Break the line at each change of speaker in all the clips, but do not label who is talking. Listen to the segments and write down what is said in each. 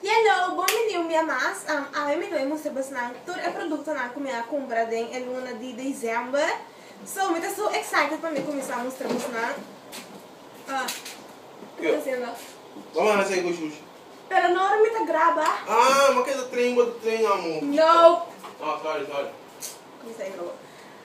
Hello, bon bini un bia mas. Awe mi lo e mustra pues nan tur e productonan cu mi a cumpra den e luna di december. So, mi ta so excited pa mi cuminsa mustra pues nan. Ah, cu ta haciendo? Vamos a hacer algo shushi. Pero no ora mi ta graba. Ah, ma keda train, bo ta train amo. No. Oh, sorry, sorry. Cuminsa di nobo.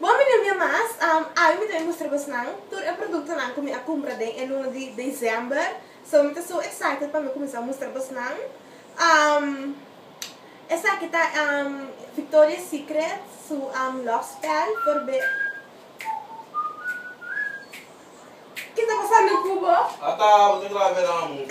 Bon mi no mia mas, awe mi ta bin mustra bos nan tur e produktonan ku mi a kumpra den e luna di December, so mi ta so excited pa mi kuminsá mustra bos nan. Esaki ta Victoria Secret su lòg spèl por be ki ta pasando ku bo. Ata bo ta grab'é nan amunt.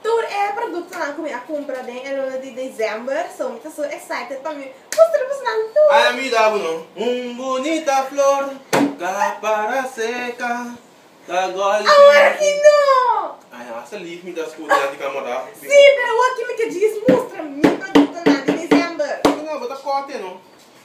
Tur e productonan cu mi a cumpra den e luna di December, so mi ta su excited pa mi mustra bo nan tur! Ay a mi da bo no. Un bunita flor ta para seca, ta gol si. Awor aki no! Ay hasta leave mi ta scuta nan di camera. Si, pero awor aki mi ke djis mustra mi productonan di December. Bo ta cote no.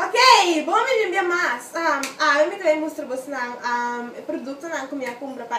Ok, bon mi limpia mas. Awe mi ta bin mustra bosnan e produktonan ku mi a kumpra pa.